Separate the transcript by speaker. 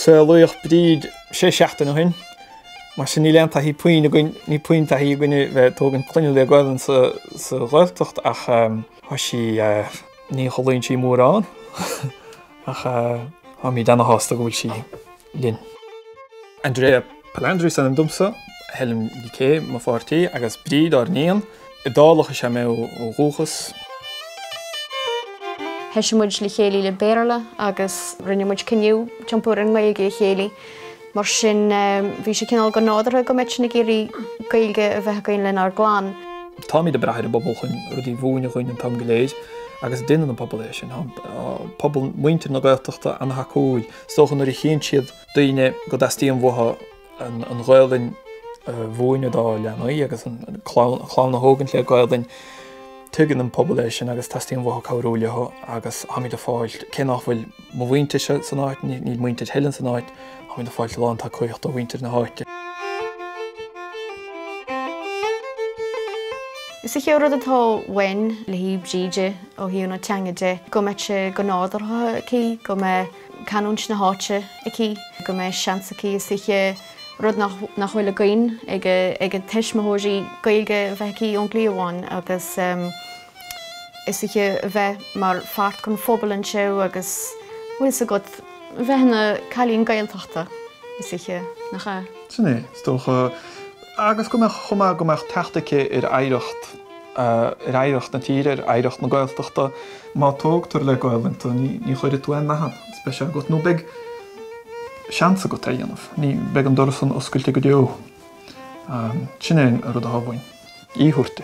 Speaker 1: Saolaíodh Bríd sé seachtaine ó shin. Mar sin níl aon taithí puinn againn, níl puinn taithí againne bheith ag tógaint clainne le Gaelainn sa Ghaeltacht ach tá sí, ní chodlaíonn sí mórán ach táimid ana-shásta go bhfuil sí. linn. Andrea Palandri is ainm domsa, Helen Ní Cé mo pháirtí agus Bríd ár n-iníon. Iodálach is ea mé ó dhúchas.
Speaker 2: Thoisigh muid le chéile le Béarla agus rinne muid cinneadh tiompú ar an nGaeilge le chéile. Mar sin bhí sé cineál go nádurtha go mbeadh sinn ag iarraidh Gaeilge a bheith againn lenár gclann. Táimid ag brath
Speaker 1: ar an bpobal chun rudaí a mhúineadh dhúinn an t-am go léir agus déanann an pobal é sin. Tá pobal, muintir na Gaeltachta an-tacúil. Is dócha nuair a chíonn siad daoine go dteastaíonn uathu an Ghaelainn a mhúineadh dá leanaí agus an chlann a thógaint le Gaelainn, tuigeann an pobal é sin agus teastaíonn uathu cabhrú leo agus táimid ag fáil, cé nach bhfuil mo mhuintir san áit, níl muintir Helen san áit, táimid ag fáil lán tacaíocht ó mhuintir na háite. Is é rud atá uainn le haghaidh
Speaker 2: Bhríde ó thaobh na teanga de, go mbeadh sé go nádúrtha aici, go mbeadh canúint na háite aici, go mbeadh seans aici, is dóiche, rud nach bhfuil againn, ag a tuismitheoirí, Gaeilge a bheith aici ón gcliabhán agus is dóiche a bheith mar pháirt den phobal anseo agus bhfuil 's agat, bheith ina cailín Gaeltachta, is dóiche, nach ea? Sin é, is dócha.
Speaker 1: Agus go mbeadh chomh maith, go mbeadh teacht aici ar oidhreacht. ar oidhreacht na tíre, ar oidhreacht na Gaeltachta. Má tógtar le Gaelainn tú ní chuirfidh tú aon nath ann, spéis agat nó beidh seans agat é a dhéanamh. Beidh an doras san oscailte go deo. Sin é an rud atá uainn a thabhairt di.